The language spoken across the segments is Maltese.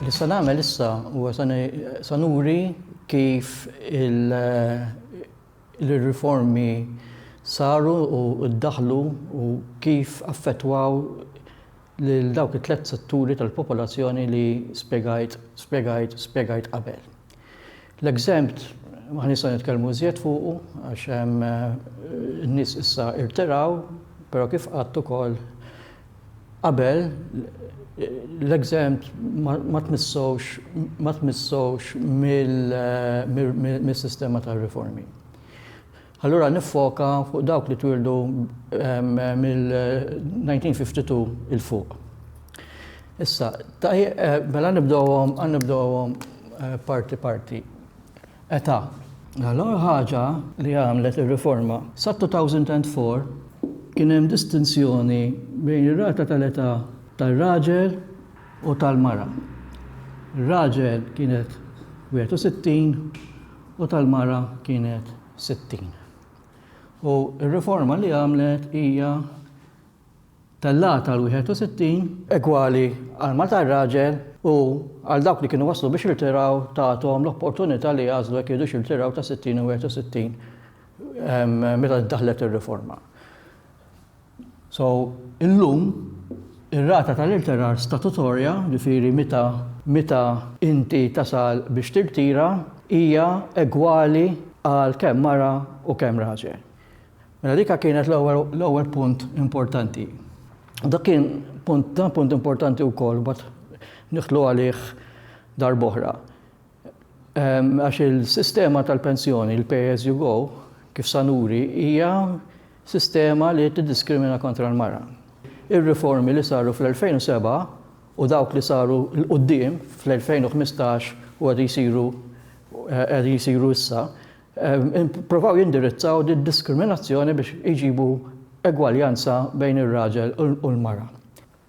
Issa nagħmel issa huwa sa nuri kif il-riformi saru u ddaħħlu u kif affettwaw lil dawk it-tliet setturi tal-popolazzjoni li spjegajt qabel. L-exempt ma nistgħu nitkellmu iżjed fuqu għax hemm nies issa irtiraw, però kif qatt ukoll qabel l-exempt ma tmissux ma tmissux mis-sistema tar-riformi. Allura niffoka fuq dawk li twieldu mill-1952 'il fuq. Issa, mela nibdewhom, għan nibdewhom parti parti. Età. Mela l-ewwel ħaġa li għamlet ir-riforma, sat-2004 kien hemm distinzjoni bejn ir-rata tal-età tar-raġel u tal-mara. Ir-raġel kienet 61 U tal-mara kienet sittin. U r-riforma li għamlet hija tellgħatha għal wieħed u sittin. Egwali għal mara tar-raġel u għal dawk li kienu waslu biex jirtiraw tagħthom l-opportunità li jagħżlu jekk iridux jirtiraw ta' sittin u wieħed u sittin meta ddaħħlet ir-riforma. So, illum, ir-rata tal-irtirar statutorja, ġifieri meta meta inti tasal biex tirtira, hija egwali għal kemm mara u kemm raġel. Mela dika kienet l-ewwel l-ewwel punt importanti. Dak kien punt dan punt importanti wkoll mbagħad nidħlu għalih darb'oħra. Għax il-sistema tal-pensjoni, il-pay as you go, kif sa nuri, hija sistema li tiddiskrimina kontra l-mara. Ir-riformi li saru fl-2007 u dawk li saru 'l quddiem fl-2015 u qegħdin isiru qegħdin isiru issa, ippruvaw jindirizzaw did-diskriminazzjoni biex iġibu egwaljanza bejn ir-raġel u l-mara.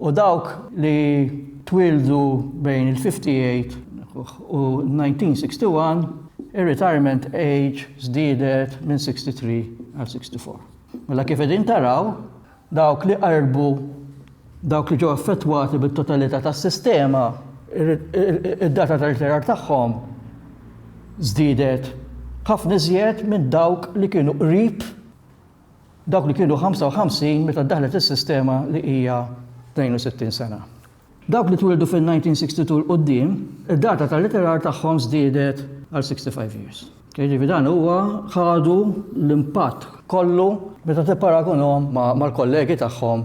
U dawk li twieldu bejn il-58 u 1961, ir-retirement age żdiedet minn 63 għal 64. Mela kif qegħdin taraw, dawk li qarbu, dawk li ġew affettwati bit-totalità tas-sistema, id-data ta' ritirar tagħhom żdiedet ħafna iżjed minn dawk li kienu qrib Dawk li kienu 55 meta ddaħħlet is-sistema li hija 62 sena. Dawk li twildu fin-1962 'l quddiem, id-data tal-ritirar tagħhom żdiedet għal 65 years. Jiġifieri dan huwa ħadu l-impatt kollu meta tipparagunhom mal-kollegi tagħhom